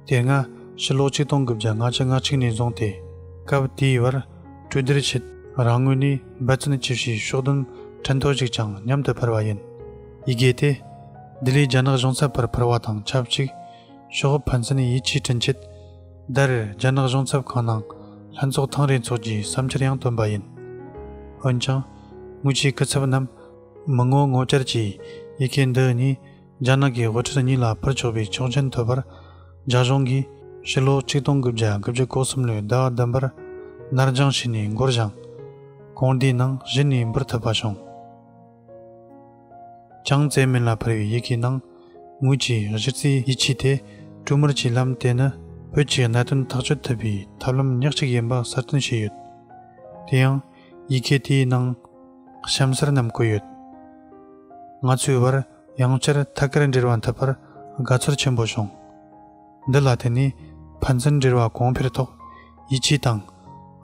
དེ་སྔ་ཕྱི་ལོ་ཆིག་སྟོང་དགུ་བརྒྱ་ལྔ་བཅུ་ང་གཅིག་ནས་བཟུང་སྟེ། སྐབས་དེའི་བར། གྲོས་བསྡུར་ཆེད་རང་ངོས་ནས། འབད་བརྩོན་བགྱིས་ཤིང་ཕྱོགས་བདུན་ཕྲན་ཐོ་གཅིག་ཀྱང་མཉམ་དུ་འཕར་བ་ཡིན། ཡི་གེ་སྟེ། ལྡི་ལིའི་རྒྱ་ནག་གཞུང་ཚབ་བར་འཕར་བ་དང་ཆབས་ཅིག་ཤོག་ཕན་ཚུན་ཡིད་ཆེས་བསྐྲུན་ཆེད། ཟླ་རེར་རྒྱ་ནག་གཞུང་ཚབ་ཁང་ནང་ལྷན་ཚོགས་ཐེངས་རེ་འཚོགས་རྒྱུའི་བསམ་འཆར་ཡང་བཏོན་པ་ཡིན། འོན་ཀྱང། དངུལ་ཆའི་སྐུ་ཚབ་རྣམས་མི་ངོ་ངོ་བཅར་གྱིས་ཡི་གེ་འདི་གཉིས་རྒྱ་ནག་གི་དབུ་ཁྲིད་གཉིས་ལ་ཕུལ་ཆོག་པའི་ཆོག་མཆན་ཐོབ་པར་རྒྱ་གཞུང་གིས་ཕྱི་ལོ་ཆིག་སྟོང་དགུ་བརྒྱ་དགུ་བཅུ་གོ་གསུམ་ལོའི་ཟླ་བ་བདུན་པར་ནར་འགྱངས་བྱས་ནས་འགོར་བཞག་གོང་དེའི་ནང་གཞི་ནས་འབུར་ཐུབ་པ་བྱུང། ཅང་ཙེ་མིན་ལ་ཕུལ་བའི་ཡི་གེའི་ནང་ངོས་ཀྱི་གཞི་རྩའི་ཡིད་ཆེས་དེ་ཀྲུའུ་མུར་གྱི་ལམ་དེ་ནི་བོད་ཀྱི་གནད་དོན་ཐག་གཅོད་ཐུབ་པའི་ཐབས་ལམ་ཉག་གཅིག་ཡིན་པ་གསལ་སྟོན་བྱས་ཡོད། དེ་ཡང་ཡི་གེ་དེའི་ནང་གཤམ་གསལ་རྣམས་བཀོད་ཡོད། ང་ཚོའི་བར། ཡང་བསྐྱར་ཐད་ཀར་འབྲེལ་བ་འཐབ་པར་དགའ་ཚོར་ཆེན་པོ་བྱུང། འདི་ལ་བརྟེན་ནས་ཕན་ཚུན་འབྲེལ་བ་གོང་འཕེལ་ཐོག་ཡིད་ཆེས་དང་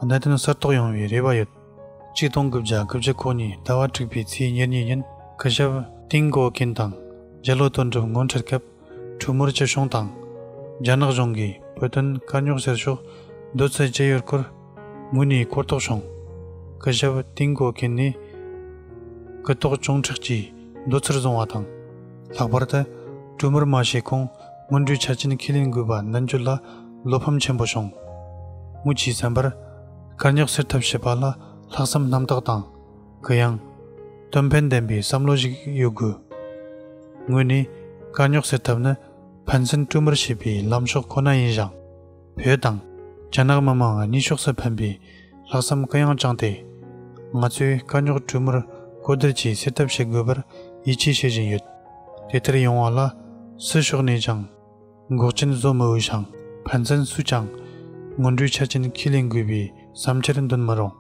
གནད་དོན་གསར་རྟོགས་ཡོང་བའི་རེ་བ་ཡོད། གཅིག་སྟོང་དགུ་བརྒྱ་དགུ་བཅུ་གོ་གཉིས་ཟླ་བ་དྲུག་པའི་ཚེས་ཉེར་གཉིས་ཉིན་སྐུ་ཞབས་ཏིང་གོ་ཀིན་དང་རྒྱལ་ལོ་དོན་གྲུབ་ངོ་འཕྲད་སྐབས་གྲུ་མུར་སྐྱིད་གཤོངས་དང། རྒྱ་ནག་གཞུང་གིས་བོད་དོན་དཀའ་རྙོག་སེལ་ཕྱོགས་བསྡུར་ཚུལ་བཅས་ཡོད་སྐོར། ངོས་ནས་གོ་རྟོགས་བྱུང། སྐུ་ཞབས་ཏིང་གོ་ཁེན་ནི་སྐུ་རྟོགས་ཅུང་མཁྲེགས་ཀྱིས་མདོ་ཚུར་བཟུང་བ་དང། ལྷག་པར་དུ་སྤྲུལ་མར་མ་ཞེས་ཁོང་སྔོན་འགྲོའི་ཆ་རྐྱེན་ཁས་ལེན་དགོས་པ་མདུན་བསྐྱོད་ལ་བློ་ཕམ་ཆེན་པོ་བྱུང། ངོས་ཀྱིས་བསམ་པར། དཀར་ཉག་སེར་ཐབས་བྱེད་པ་ལ་ལྷག་བསམ་རྣམ་དག་དང། གུ་ཡངས། དོན་ཕན་ལྡན་པའི་བསམ་བློ་ཞིག་ཡོད་དགོས། ངོས་ནས་དཀར་ཉག་སེར་ཐབས་ནི་ཕན་ཚུན་སྤྲུལ་མར་བྱེད་པའི་ལམ་ཕྱོགས་ཁོ་ན་ཡིན་ཞིང། བོད་དང། རྒྱ་ནག་མི་མང་གཉིས་ཕྱོགས་སུ་ཕན་པའི་ལྷག་བསམ་དཀའ་ཡང་བཅངས་ཏེ། ང་ཚོས་དཀའ་རྙོག་གྲོས་མོལ་གོ་བསྡུར་བཅས་སེལ་ཐབས་བྱེད་དགོས་པར་ཡིད་ཆེས་བྱེད་བཞིན་ཡོད། དེ་ལྟར་ཡོང་བ་ལ་སུ་ཕྱོགས་ནས་ཀྱང་འགོག་རྐྱེན་བཟོ་མི་འོས་ཤིང་ཕན་ཚུན་སུས་ཀྱང་སྔོན་འགྲོའི་ཆ་རྐྱེན་ཁས་ལེན་དགོས་པའི་བསམ་འཆར་འདོན་མི་རུང།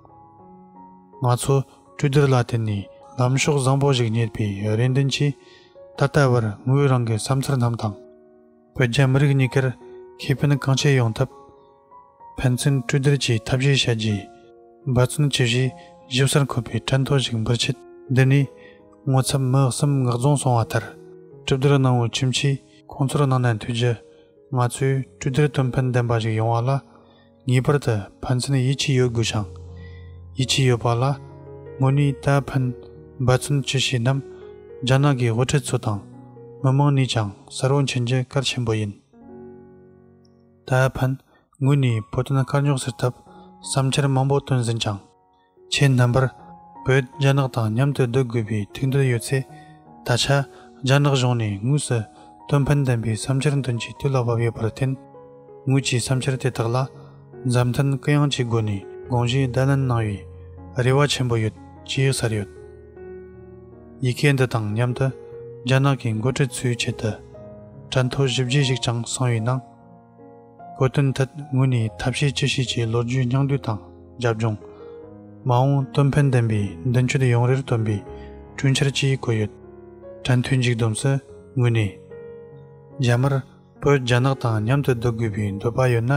ང་ཚོ་གྲོས་བསྡུར་ལ་བརྟེན་ནས་ལམ་ཕྱོགས་བཟང་པོ་ཞིག་རྙེད་པའི་རེ་འདུན་གྱིས་ད་ལྟ་བར་ངོས་རང་གི་བསམ་འཆར་རྣམས་དང། བོད་རྒྱ་མི་རིགས་གཉིས་ཀར་ཁེ་ཕན་གང་ཆེ་ཡོང་ཐབས། ཕན་ཚུན་སྤྲོས་བསྡུར་གྱིས་ཐབས་ཤེས་བྱ་རྒྱུའི་འབད་བརྩོན་ཇི་བཞིན་ཞིབ་གསར་འཁོད་པའི་དྲན་ཐོ་ཞིག་འབུལ་ཆེད། འདི་ནས་ངོ་ཚབ་མི་གསུམ་ངག་རྫོང་སོང་བ་ལྟར། གྲུབ་བསྡུར་གནང་བའི་ཁྱིམ་མཆིས་ཁོང་ཚོར་གནང་ནས་དུས་རྒྱུན་ང་ཚོས་གྲོས་བསྡུར་དོན་ཕན་ལྡན་པ་ཞིག་ཡོང་བ་ལ་ངེས་པར་དུ་ཕན་ཚུན་ཡིད་ཆེས་ཡོད་དགོས་ཤིང། ཡིད་ཆེས་ཡོད་པ་ལ་དངོས་གནས་ད་ཕན་འབད་བརྩོན་ཅི་བྱེད་རྣམས་རྒྱ་ནག་གི་དབུ་ཁྲིད་ཚོ་དང་མི་མང་ནས་ཀྱང་གསལ་བོ་མཁྱེན་རྒྱུ་གལ་ཆེན་པོ་ཡིན། ད་ཕན་ངོས་ནས་བོད་དོན་དཀའ་རྙོག་སེལ་ཐབས་བསམ་འཆར་མང་པོ་བཏོན་ཟིན་ཀྱང། ཆེས་རྣམ་པར་བོད་རྒྱ་ནག་དང་མཉམ་དུ་སྡོད་དགོས་པའི་ཐུགས་འདོད་ཡོད་ཚེ། ད་ཆ་རྒྱ་ནག་གཞུང་ནས་དངོས་སུ་སྟོན་ཕན་ལྡན་པའི་བསམ་འཆར་འདོན་ཆེད་དུས་ལ་བབ་ཡོད་པར་བརྟེན། ངོས་ཀྱིས་བསམ་འཆར་དེ་དག་ལ་མཛའ་མཐུན་གུ་ཡངས་ཀྱི་སྒོ་ནས་དགོངས་གཞི་བརྡ་ལན་གནང་བའི་རེ་བ་ཆེན་པོ་ཡོད་ཅེས་ཟེར་ཡོད། ཡི་གེ་འདི་དང་མཉམ་དུ་རྒྱ་ནག་གི་མགོ་ཁྲིད་ཚོའི་ཆེད་དུ་སྐྲ་མཐོ་བཞི་བརྒྱད་ཞིག་ཀྱང་གསུངས་ཡོད་སྣང། བཀོད་དོན་ཐད་ངོས་ནས་ཐབས་ཤེས་ཅི་ཤེས་ཀྱིས་ལོ་རྒྱུས་སྙིང་བསྡུས་དང་རྒྱབ་ལྗོངས། མ་འོངས་དོན་ཕན་ལྡན་པའི་མདུན་སྐྱོད་ཡོང་རེར་བཏོན་པའི་གྲོས་འཆར་གྱིས་བཀོད་ཡོད། དྲན་ཐོའི་འཇིགས་སྡོམ་སུ་ངོས་ནས། རྒྱ་དམར་པོས་རྒྱ་ནག་དང་མཉམ་དུ་སྡོད་དགོས་པའི་འདོད་པ་ཡོད་ན།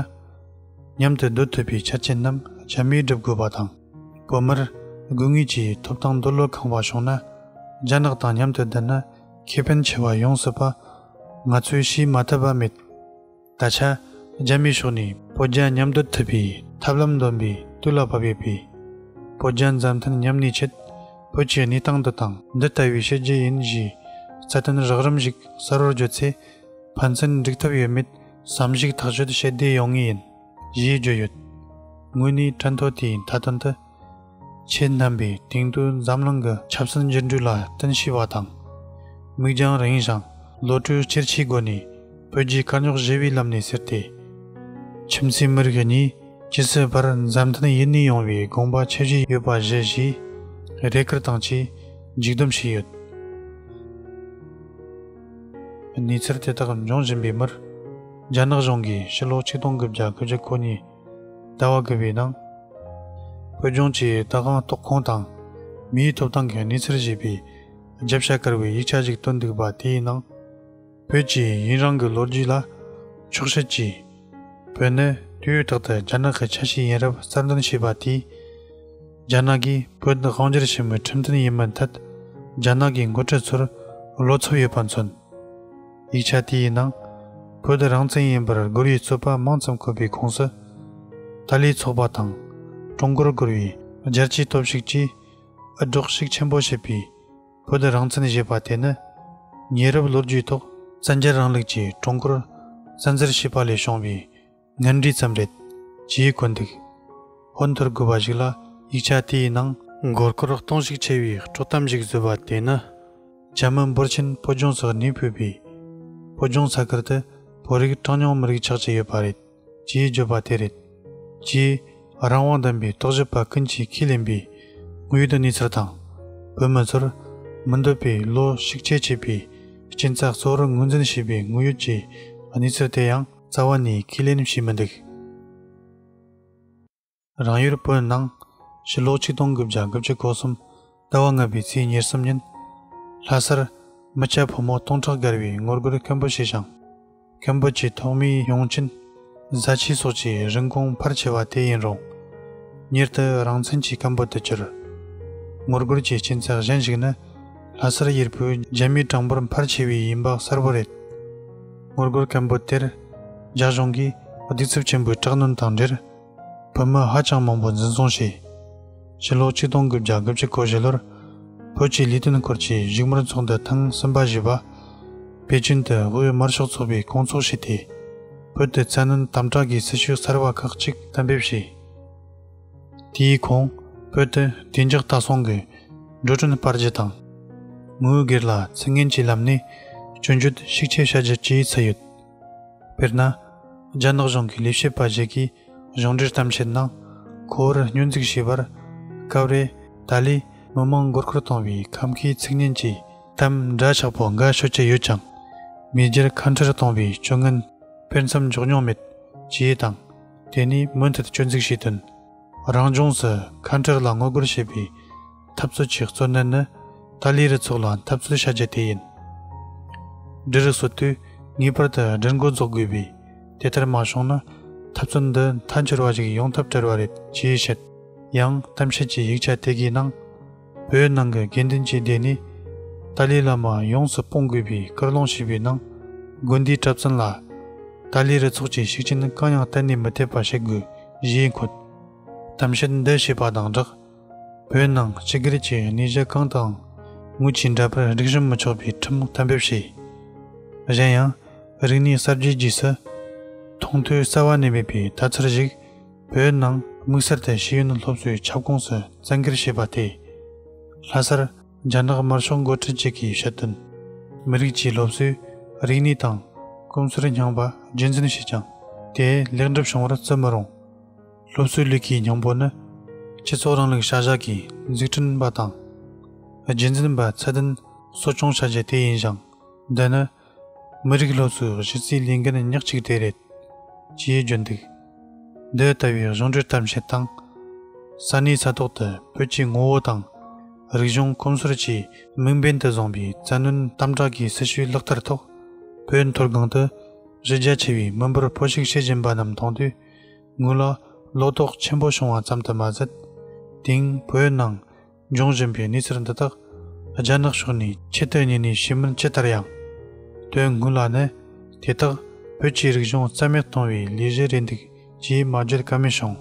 མཉམ་དུ་སྡོད་ཐུབ་པའི་ཆ་རྐྱེན་རྣམས་རྒྱ་མིས་སྒྲུབ་དགོས་པ་དང། བོད་མིར་དགོས་ངེས་ཀྱི་ཐོབ་ཐང་འདོད་བློ་གང་བ་བྱུང་ན། རྒྱ་ནག་དང་མཉམ་དུ་བསྡད་ན། ཁེ་ཕན་ཆེ་བ་ཡོངས་སུ་པ། ང་ཚོས་ཤེས་མ་ཐུབ་པ་མེད། ད་ཆ། རྒྱ་མིའི་ཕྱོགས་ནས་བོད་རྒྱ་མཉམ་སྡོད་ཐུབ་པའི་ཐབས་ལམ་འདོན་པའི་དུས་ལ་བབ་ཡོད་པས། བོད་རྒྱ་མཛའ་མཐུན་མཉམ་གནས་ཆེད། བོད་ཀྱི་གནས་སྟངས་འདི་དང་འདི་ལྟ་བུའི་བྱེད་རྒྱུ་ཡིན་ཞེས། རྩ་དོན་རགས་རིམ་ཞིག་གསལ་བོར་བརྗོད་ཚེ། ཕན་ཚུན་འགྲིག་ཐབས་ཡོད་མེད་བསམ་གཞིག་ཐག་གཅོད་བྱེད་བདེ་ཡོང་ངེས་ཡིན། ཞེས་བརྗོད་ཡོད། དངོས་གནས་དྲན་ཐོ་དེའི་མཐའ་དོན་དུ། ཆེས་བསྣམས་པའི་སྟེང་དུ་འཛམ་གླིང་གི་ཆབ་སྲིད་འགྱུར་འགྲོས་ལ་བརྟེན་ཤེས་པ་དང། མིག་རྒྱང་རིང་ཞིང་བློ་གྲོས་ཆེར་ཆེའི་སྒོ་ནས་བོད་རྒྱའི་དཀའ་རྙོག་གཞིལ་བའི་ལམ་ནས་ཟེར་ཏེ། ཁྱིམ་མཚེས་མི་རིགས་གཉིས་ཇི་སྲིད་བར་མཛའ་མཐུན་ཡུན་གནས་ཡོང་བའི་དགོངས་པ་ཆེ་བཞེས་ཡོད་པ་བཞི་བཞིས་རེ་སྐུལ་དང་བཅས་མཇུག་སྡོམ་བྱས་ཡོད། གནས་ཚུལ་དེ་དག་འབྱུང་བཞིན་པའི་མུར། རྒྱ་ནག་གཞུང་གིས་ཕྱི་ལོ་ཆིག་སྟོང་དགུ་བརྒྱ་དགུ་བཅུ་གོ་གཉིས། བརྡལ་བ་དགོས་པའི་ནང། བོད་ལྗོངས་ཀྱི་ལྟ་སྒང་གཏོགས་ཁོངས་དང་མིའི་ཐོབ་ཐང་གི་གནས་ཚུལ་ཞེས་པའི་རྒྱབ་ཤ་དཀར་བའི་ཡིག་ཆ་ཞིག་བཏོན་འདུག་པ་དེའི་ནང། བོད་ཀྱིས་ཡུན་རིང་གི་ལོ་རྒྱུས་ལ་འཁྱོག་བཤད་ཀྱིས། བོད་ནི་དུས་རྟག་ཏུ་རྒྱ་ནག་གི་ཆ་ཤས་ཡིན་རབས་གསར་འདོན་བྱས་པ་དེས། རྒྱ་ནག་གིས་བོད་དང་དབང་སྒྱུར་བྱེད་མུས་ཁྲིམས་མཐུན་ཡིན་མིན་ཐད་རྒྱ་ནག་གི་མགོ་ཁྲིད་ཚོར་བློ་འཚབ་ཡོད་པ་མཚོན། ཡིག་ཆ་དེ་ཡི་ནང་བོད་དུ་རང་བཙན་ཡིན་པར་སྒུར་བའི་རྩོད་པ་མང་ཙམ་འཁོད་པའི་ཁོངས་སུ། ཏཱ་ལའི་ཚོགས་པ་དང་ཀྲུང་གོར་སྒུར་བའི་རྒྱལ་སྤྱིའི་སྟོབས་ཤུགས་ཀྱིས་འུད་སྒྲོག་ཤུགས་ཆེན་པོ་བྱས་པའི་བོད་དུ་རང་བཙན་བཞེས་པ་དེ་ནི། ཉེ་རབས་ལོ་རྒྱུས་ཐོག་བཙན་རྒྱལ་རིང་ལུགས་ཀྱིས་ཀྲུང་གོར་བཙན་འཛུལ་བྱས་པ་ལས་བྱུང་བའི་ངན་འབྲས་ཙམ་རེད། ཅེས་བཀོད་འདུག་ཧོན་དུར་དགོས་པ་ཞིག་ལ་ཡིག་ཆ་དེའི་ནང། མགོ་སྐོར་གཏོང་ཤུགས་ཆེ་བའི་དཀྲོག་གཏམ་ཞིག་བཟོས་པ་དེ་ནི། རྒྱ་མི་འབོར་ཆེན་བོད་ལྗོངས་སུ་གནས་སྤོས་པས། བོད་ལྗོངས་ས་ཁུལ་དུ་བོད་རིགས་གྲངས་ཉུང་མི་རིགས་ཆགས་ཀྱི་ཡོད་པ་རེད་ཅེས་བརྗོད་པ་དེ་རེད། ཅེས་རང་དབང་ལྡན་པའི་རྟོག་ཞིབ་པ་ཀུན་གྱིས་ཁས་ལེན་པའི་དངོས་ཡོད་གནས་ཚུལ་དང། བོད་མི་ཚོར་མི་འདོད་པའི་བློ་ཞིག་ཁྱད་ཆེས་པའི་རྐྱེན་རྩ་གཙོ་བོར་ངོས་འཛིན་བྱས་པའི་དངོས་ཡོད་ཀྱི་གནས་ཚུལ་དེ་ཡང། རྩ་བ་ནས་ཁས་ལེན་བྱེད་མི་འདུག། རང་ཡུལ་བོད་ནང་ཕྱི་ལོ་ཆིག་སྟོང་དགུ་བརྒྱ་དགུ་བཅུ་གོ་གསུམ་ཟླ་བ་ལྔ་པའི་ཚེས་ཉེར་གསུམ་ཉིན། ལྷ་སར་མི་སྐྱ་ཕོ་མོ་སྟོང་ཕྲག་བརྒལ་བའི་ངོ་རྒོལ་མཁན་པོ་ཞེ་ཞང། མཁན་པོ་བཅས་ཐོག་མའི་ཡོང་ཆིན། བཟའ་ཆས་སོགས་ཀྱི་རིན་གོང་འཕར་ཆེ་བ་དེ་ཡིན་རུང། མྱུར་དུ་རང་བཙན་གྱི་སྐམ་པོ་དུ་གྱུར། ངོ་རྒོལ་གྱི་སྐྱིན་ཚབ་གཞན་ཞིག་ནི། ལྷ་སར་ཡུལ་བོད་རྒྱ་མིའི་གྲངས་འབོར་འཕར་ཆེ་བས་ཡིན་པ་གསལ་བོ་རེད། ངོ་རྒོལ་སྐད་འབོད་དེར། རྒྱ་གཞུང་གིས་གདུག་རྩུབ་ཆེན་པོའི་དྲག་གནོན་དང་འབྲེལ། བོད་མི་ཧ་ཅང་མང་པོ་འཛིན་བཟུང་བྱས། ཕྱི་ལོ་ཆིག་སྟོང་དགུ་བརྒྱ་དགུ་བཅུ་གོ་བཞི་ལོར། བོད་ཀྱི་ལས་དོན་སྐོར་གྱི་བཞུགས་མོལ་ཚོགས་འདུ་ཐེངས་གསུམ་པ་བཞུགས་པ། པེ་ཅིན་དུ་དབུས་དམར་ཤོག་ཚོགས་པའི་བསྐོང་ཚོགས་བྱས་ཏེ། བོད་དུ་མཚན་སྣོན་དམ་དྲག་གི་སྲི་ཞུ་གསར་བ་ཁག་གཅིག་གཏན་འབེབས་བྱས། དེའི་གོང་བོད་དུ་བདེ་འཇགས་ལྟ་སྲུང་གི་འགྲོ་གྲོན་སྤར་རྒྱུ་དང། ངོས་སྒེར་ལ་ཚིག་ངན་གྱི་ལམ་ནས་སྐྱོན་བརྗོད་ཤུགས་ཆེ་བྱ་རྒྱུ་བཅས་ཚུད་ཡོད། དཔེར་ན། རྒྱ་ནག་གཞུང་གི་ལས་བྱེད་པ་ཞིག་གིས་གཞུང་འབྲེལ་གཏམ་འཆལ་ནང་ཁོ་བོར་སྙོན་འཛུགས་བྱས་པར། སྐབས་རེ་ད་ལོའི་མི་མང་མགོ་སྐོར་བཏང་བའི་ཁམས་ཁའི་ཚིག་ངན་གྱི་གཏམ་འདྲ་ཆགས་པོ་འགའ་ཤོད་ཀྱི་ཡོད་ཀྱང། མེས་རྒྱལ་ཁ་འཕྲལ་གཏོང་བའི་སྤྱོད་ངན་སྤེལ་མཚམས་འཇོག་མྱོང་མེད་ཅེས་དང། དེ་ནི་མུ་མཐུད་སྤྱོད་འཛུགས་བྱས་དོན། རང་ལྗོངས་སུ་ཁ་འབྲལ་ལ་ངོ་རྒོལ་བྱེད་པའི་འཐབ་རྩོད་ཀྱི་གཙོ་གནད་ནི་ཏཱ་ལའི་རུ་ཚོགས་ལ་འཐབ་རྩོད་བྱ་རྒྱུ་དེ་ཡིན། འབྲི་རུ་སོ་དུས་ངེས་པར་དུ་སྦྲུལ་མགོ་རྫོགས་དགོས་པས་དེ་ལྟར་མ་བྱུང་ན་འཐབ་རྩོད་འདི་མཐའ་འཁྱོལ་བ་ཞིག་ཡོང་ཐབས་བྲལ་བ་རེད་ཅེས་བཤད། ཡང་གཏམ་བཤད་ཀྱི་ཡིག་ཆ་དེ་གའི་ནང། བོད་ནང་གི་དགེ་འདུན་ཆོས་སྡེ་ནི་ཏཱ་ལའི་བླ་མ་ཡོངས་སུ་སྤོང་དགོས་པའི་སྐུར་སློང་བྱས་པའི་ནང་དགོན་འདིའི་གྲབས་ཚང་ལ་ཏཱ་ལའི་རུ་ཚོགས་ཀྱི་ཤུགས་རྐྱེན་གང་ཡང་གཏན་ནས་མི་ཐེབས་པ་བྱེད་དགོས་ཞེས་འཁོད། གཏམ་བཤད་འདི་བྱས་པ་དང་སྦྲགས་བོད་ནང་སྤྱི་སྒེར་གྱི་གནས་གཞི་གང་དུའང་དངུལ་གྱི་འདྲ་པར་སྒྲིག་གཞུང་མི་ཆོག་པའི་ཁྲིམས་གཏན་འབེབས་བྱས། གཞན་ཡང་རིག་གནས་གསར་བརྗེའི་རྗེས་སུ་མཐོང་ཐོས་གསར་བ་གནས་མེད་པའི་ལྟ་ཚུལ་ཞིག་བོད་ནང་དམིགས་བསལ་ཐད་ཤེས་ཡོན་སློབ་གསོའི་ཁྱབ་ཁོངས་སུ་བཙན་འགེལ་བྱས་པ་དེས། ལྷ་སར་རྒྱ་ནག་དམར་ཤོག་མགོ་ཁྲིད་ཅིག་གིས་ཞུ་དོན། མི་རིགས་ཀྱི་སློབ་གསོའི་རིག་གནས་དང་གོམས་སྲོལ་རྙིང་པ་རྒྱུད་འཛིན་བྱས་ཀྱང་དེ་ལེགས་འགྲུབ་བྱུང་བར་བརྩི་མི་རུང། སློབ་གསོའི་ལུས་ཀྱི་སྙིང་པོ་ནི། སྤྱི་ཚོགས་རིང་ལུགས་བྱ་གཞག་གི་འཛུགས་སྐྲུན་པ་དང། རྒྱུད་འཛིན་པ་ཚད་ལྡན་གསོ་སྐྱོང་བྱ་རྒྱུ་དེ་ཡིན་ཞིང། འདི་ནི་མི་རིགས་སློབ་གསོའི་གཞི་རྩའི་ལས་འགན་ཉག་གཅིག་དེ་རེད། ཅེས་བརྗོད་འདུག་འདི་ལྟ་བུའི་གཞུང་འབྲེལ་གཏམ་བཤད་དང། ས་གནས་ས་ཐོག་ཏུ་བོད་ཀྱི་ངོ་བོ་དང། རིག་གཞུང་གོམས་སྲོལ་བཅས་དམིགས་འབེན་དུ་བཟུང་པའི་བཙན་གནོན་དམ་དྲག་གི་སྲི་ཞུའི་ལག་བསྟར་ཐོག་བོད་མཐོ་སྒང་དུ་གཞི་རྒྱ་ཆེ་བའི་མི་འབོར་འཕོ་ཞིག་བྱེད་བཞིན་པ་རྣམས་མཐོང་དུས་ངོས་ལ་ལོག་རྟོག་ཆེན་པོ་བྱུང་བ་ཙམ་དུ་མ་ཟད། དེང་བོད་ནང་འབྱུང་བཞིན་པའི་གནས་ཚུལ་འདི་དག་རྒྱ་ནག་ཕྱོགས་ནས་ཆེ་བསྟོད་ཉིན་ནས་བྱེད་མིན་ཅི་ལྟར་ཡང། དོན་དངོས་ལ་ནི་དེ་དག་བོད་ཀྱི་རིག་གཞུང་རྩ་མེད་གཏོང་བའི་ལས་གཞི་རེད་འདུག་ཅེས་མ་བརྗོད་ཀ་མེད་བྱུང།